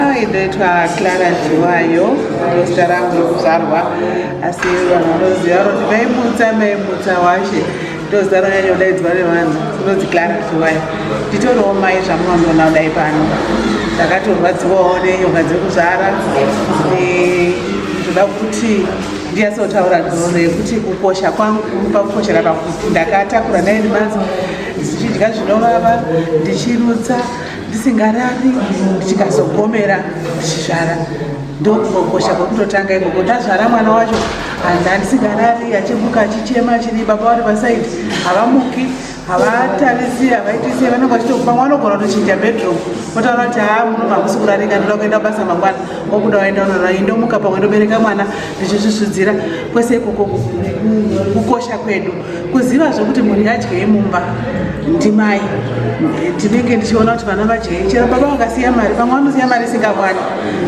Ndoitwa Clara Dziwayo, ndozita rangu rokuzvarwa asi vanhu vanoziva vanoti maimutsa maimutsa washe ndozita rinonyanya kudaidzwa nevanhu rinonzi Clara Dziwayo. Nditoriwo mai zvamunondiona kudai pano, ndakatorwadziwawo nenyoka dzekuzvara ndoda kuti ndiyasotaura nhoroondo yekuti kukosha kwangu pakukoshera pakuti ndakatakura nine months ndichidya zvinovava ndichirutsa ndisingarari ndichikazogomera ndichizvara ndokukokosha kwekutotanga ikoko ndazvara mwana wacho hanzi handisingarari achimuka achichema chini baba vari pasaidi havamuki havatarisi havaitisi vanenge vachitokupa mwana ogona kutochinja bedroom otaura kuti haa muno mamusi kurarika ndoda kuenda basa mangwana okuda waenda unorara indomuka pamwe ndobereka mwana ndichisvusvudzira kwese ikoko kukosha kwedu kuziva zvekuti mhuri yadye yemumba ndimai ndinenge ndichiona kuti vana vadye chero baba vakasiya mari pamwe vanosiya mari isingakwani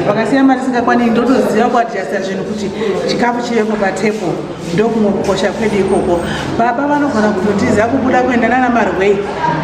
vakasiya mari isingakwani ndotoziva kuadjasta zvinhu kuti chikafu chivepo patepo ndokumwe kukosha kwedu ikoko baba vanogona kutotiza kubuda kuenda nana marwei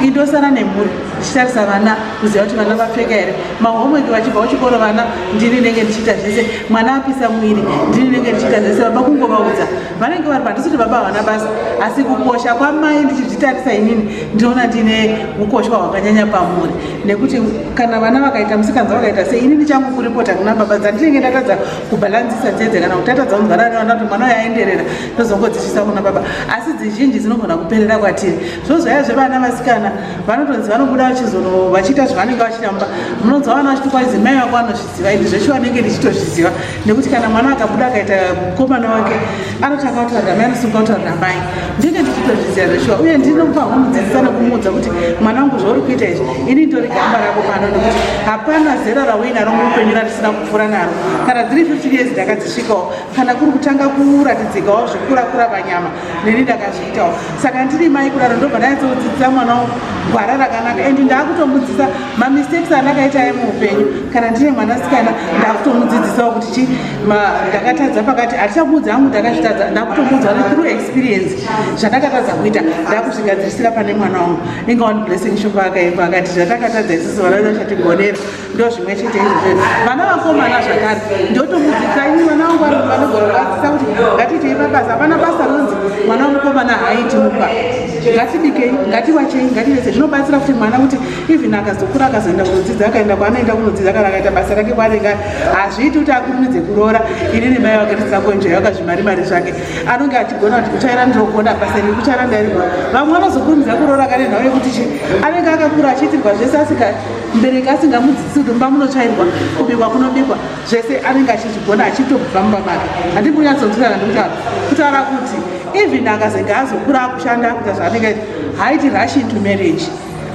indosara nemhuri ndichitarisa vana kuziva kuti vana vapfeka here mahomweki vachibva kuchikoro vana ndini nenge ndichiita zvese mwana apisa mwiri ndini nenge ndichiita zvese baba kungovaudza vanenge vari pandisi kuti baba havana basa asi kukosha kwamai ndichizvitarisa inini ndinoona ndine ukoshwa hwakanyanya pamuri nekuti kana vana vakaita musikanza vakaita sei inini changu kuripota kuna baba dzandinenge ndatadza kubhalanzisa dzedze kana kuti tatadza kunzvara nevana kuti mwana uyaenderera ndozongodzisvisa kuna baba asi dzizhinji dzinogona kuperera kwatiri zvo zvaya zvevana vasikana vanotonzi vanobuda vachizono vachiita zvavanenge vachitamba munonzwa vana vachiti kwaizi mai vako vanozviziva ini zveshuwa nenge ndichitozviziva nekuti kana mwana akabuda akaita mukomana wake anoti akautaurira mai anosunga kutaurira mai ndinge ndichitozviziva zveshuwa uye ndinopa humudzidzisa nekumuudza kuti mwana wangu zvauri kuita izvi ini ndori gamba rako pano nekuti hapana zera rauinaro muupenyu ratisina kupfuura naro kana dziri 15 years ndakadzisvikawo kana kuri kutanga kuratidzikawo zvekurakura panyama neni ndakazviitawo saka ndiri mai kudaro ndobva ndanyatsodzidzisa mwana wangu gwara rakanaka and ndaakutomudzisa mamistakes andakaita aye muupenyu kana ndine mwanasikana ndakutomudzidzisawo kuti chi ndakatadza pakati hatichamuudza angu ndakazvitadza ndakutomuudza ne through experience zvandakatadza kuita ndakuzvigadzirisira pane mwana wangu inga one blessing shoko akaimba akati zvatakatadza isusu vana vedu vachatigonera ndo zvimwe chete izvozvo vana vakomana zvakare ndotomudzidzisa ini mwana wangu vanogona kuvadzidzisa kuti ngatiitei pabasa hapana basa ronzi mwana wemukomana haaiti mumba ngatibikei ngatiwachei ngativese zvinobatsira kuti mwana kuti even akazokura akazoenda kunodzidza akaenda kwaanoenda kunodzidza kana akaita basa rake kwaanenge ari hazviiti kuti akurumidze kuroora ini nemai vake tisakonjayo akazvimari mari zvake anonge achigona kuti kuchaira ndinogona basa iri kuchaira ndairigona vamwe vanozokurumidza kuroora kane nhau yekuti chi anenge akakura achiitirwa zvese asika mbereki asingamudzidzisi kuti mumba munochairwa kubikwa kunobikwa zvese anenge achizvigona achitobva mumba make handimbunyatsodzirana ndikutaura kutaura kuti even akazenge azokura akushanda akuita zvaanenge haiti rushing to marriage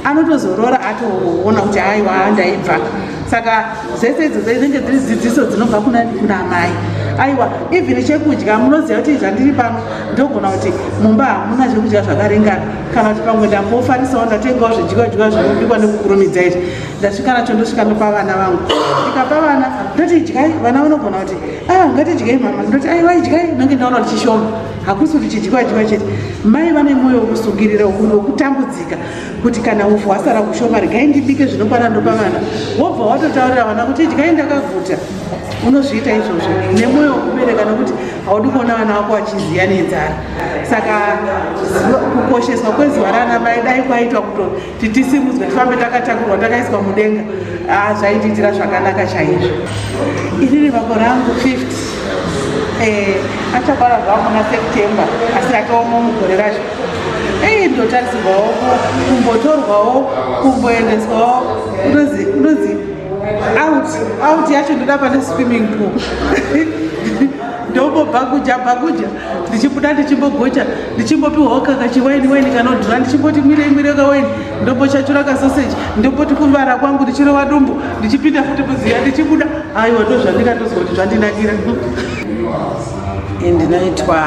anotozorora atoona kuti aiwa ndaibva saka dzese idzo dzinenge dziri dzidziso dzinobva kuna kuna amai aiwa even chekudya munoziva kuti zvandiri pano ndogona kuti mumba hamuna zvekudya zvakaringana kana kuti pamwe ndambofarisawo ndatengawo zvidyiwa dyiwa zvinobikwa nekukurumidza izvi ndasvika nacho ndosvika ndopa vana vangu ndikapa vana ndoti idyai vana vanogona kuti a ah, ngatidyei mama ndoti aiwa idyai nonge ndaona kuti chishoma hakusi kuti chidyiwa dyiwa chete mai vane mwoyo wekusungirira ukuru wekutambudzika kuti kana upfu hwasara kushoma regai ndibike zvinokwana ndopa vana wobva watotaurira vana kuti idyai ndakaguta unozviita izvozvo nemwoyo wekubereka nokuti haudi kuona vana vako vachiziya nenzara saka kukosheswa kwezuva raana mai dai kwaitwa kuto titisimudzwe tifambe takatakurwa takaiswa mudenga ah, zvaitiitira zvakanaka chaizvo iri rivako rangu 50 eh, achapara zvavo muna september asi akaoma mugore racho ei ndotarisirwawo kumbotorwawo kumboendeswawo unozi unozi out out yacho ndoda pane swimming pool ndobobhakuja bhakuja ndichibuda ndichimbogocha ndichimbopiwawo kaka chiwaini waini kanodhura ndichimboti mwire mwire kawaini ndombochachura kasoseji ndomboti kuvara kwangu ndichirova dumbu ndichipinda futi muziya ndichibuda aiwa ndo zvandingatozwa kuti zvandinakira ndinoitwa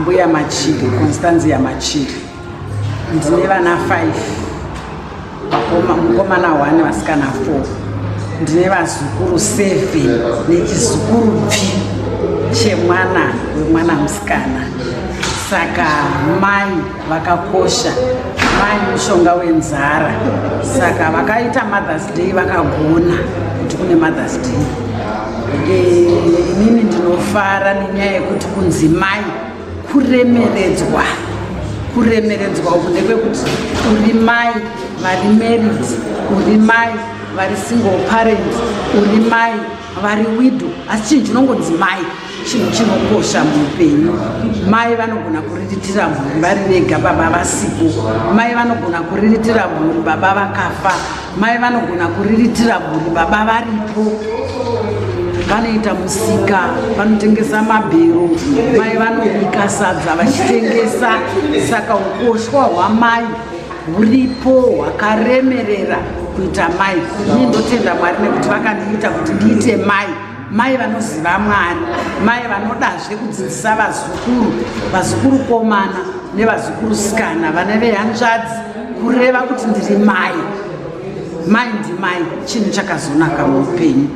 mbuya machiri constanzia machiri ndine vana five mukomana one vasikana four ndine vazukuru seven nechizukuru pfi chemwana wemwana musikana saka mai vakakosha mai mushonga wenzara saka vakaita mothers day vakagona kuti kune mothers day eh, inini ndinofara nenyaya yekuti kunzi mai kuremeredzwa kuremeredzwa uku nekwekuti uri mai vari married uri mai vari single parent uri mai vari wido asi chinhu chinongonzi mai chinhu chinokosha muupenyu mai vanogona kuriritira mhuri vari vega baba vasipo mai vanogona kuriritira mhuri baba vakafa Mai vanogona kuriritira mhuri, baba varipo vanoita musika, vanotengesa mabhero, mai vanobika sadza vachitengesa. Saka ukoshwa hwamai huripo hwakaremerera kuita mai. Ini ndotenda Mwari nekuti vakandiita kuti ndiite mai. mai vanoziva mwari mai vanodazve kudzidzisa vazukuru vazukuru komana nevazukuru sikana vane vehanzvadzi kureva kuti ndiri mai mai ndimai chinhu chakazonaka muupenyu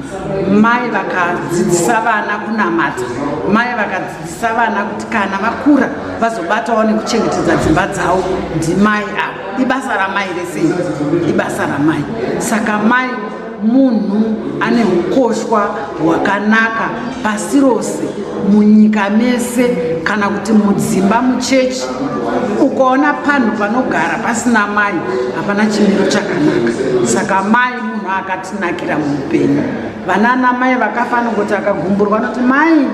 mai vakadzidzisa vana kunamata mai vakadzidzisa vana kuti kana vakura vazobatawo nekuchengetedza dzimba dzavo ndimai avo ibasa ramai rese ibasa ramai saka mai munhu ane ukoshwa hwakanaka pasi rose munyika mese kana kuti mudzimba muchechi ukaona panhu panogara pasina mai hapana chimiro chakanaka saka mai munhu akatinakira muupenyu vanana mai vakafanira kuti akagumburwa anoti mai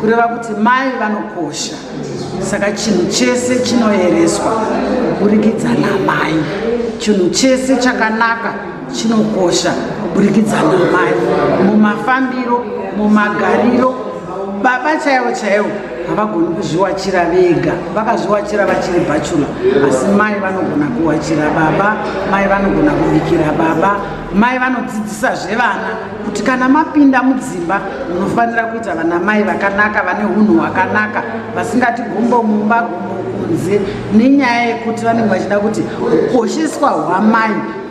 kureva kuti mai vanokosha saka chinhu chese chinoereswa kuburikidza namai chinhu chese chakanaka chinokosha kuburikidza namai mumafambiro mumagariro baba chaivo chaivo havagoni kuzviwachira vega vakazviwachira vachiri bhachula asi mai vanogona kuwachira baba mai vanogona kubikira baba mai vanodzidzisa zvevana kuti kana mapinda mudzimba munofanira kuita vana mai vakanaka vane unhu hwakanaka vasingati gumbo mumba gumbo kunze nenyaya yekuti vanenge vachida kuti ukosheswa hwamai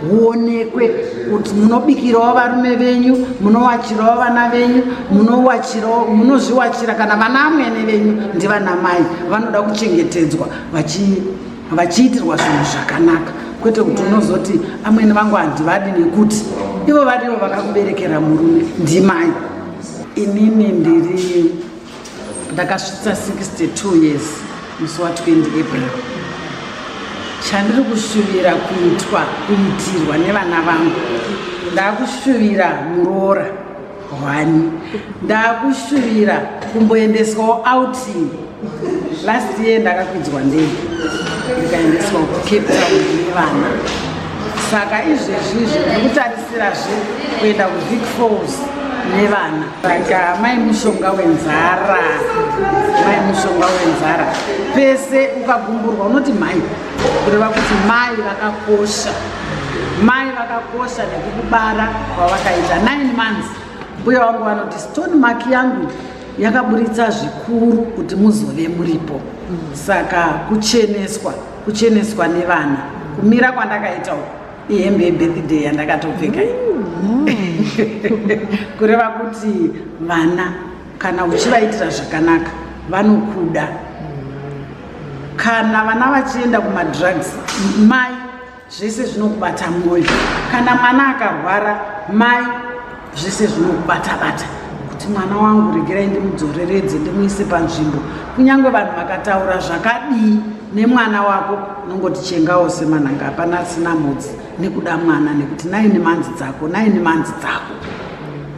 huonekwe kuti munobikirawo varume venyu munowachirawo vana venyu munowachirawo munozviwachira kana vana amwene venyu ndivana mai vanoda kuchengetedzwa vachiitirwa zvinhu zvakanaka kwete kuti unozoti amwene vangu handivadi nekuti ivo varivo vakakuberekera murume ndimai inini ndiri ndakasvitsa 62 years musi wa 20 april chandiri kushuvira kuitwa kuitirwa nevana vangu ndakushuvira muroora hwani ndakushuvira kumboendeswawo outing last year ndakakwidzwa ndege ndikaendeswa kucape town nevana saka izvezvi izvi ndikutarisira zve kuenda kuvik falls nevana But uh, mai mushonga wenzara, mai mushonga wenzara, pese ukagumburwa unoti mai, kureva kuti mai vakakosha, mai vakakosha nekukubara kwavakaita 9 months. Mbuya wangu vanoti stone mark yangu yakaburitsa zvikuru kuti muzove muripo, saka kucheneswa, kucheneswa nevana, kumira kwandakaita uku ihembe yebirthday yandakatopfeka mm. kureva kuti vana kana uchivaitira zvakanaka vanokuda kana vana vachienda kumadrugs mai zvese zvinokubata mwoyo kana mwana akarwara mai zvese zvinobata bata kuti mwana wangu regerai ndimudzoreredze ndimuise panzvimbo kunyange vanhu vakataura zvakadii nemwana wako unongoti chengawo semananga hapana asina mhodzi nekuda mwana nekuti naini manzi dzako naini manzi dzako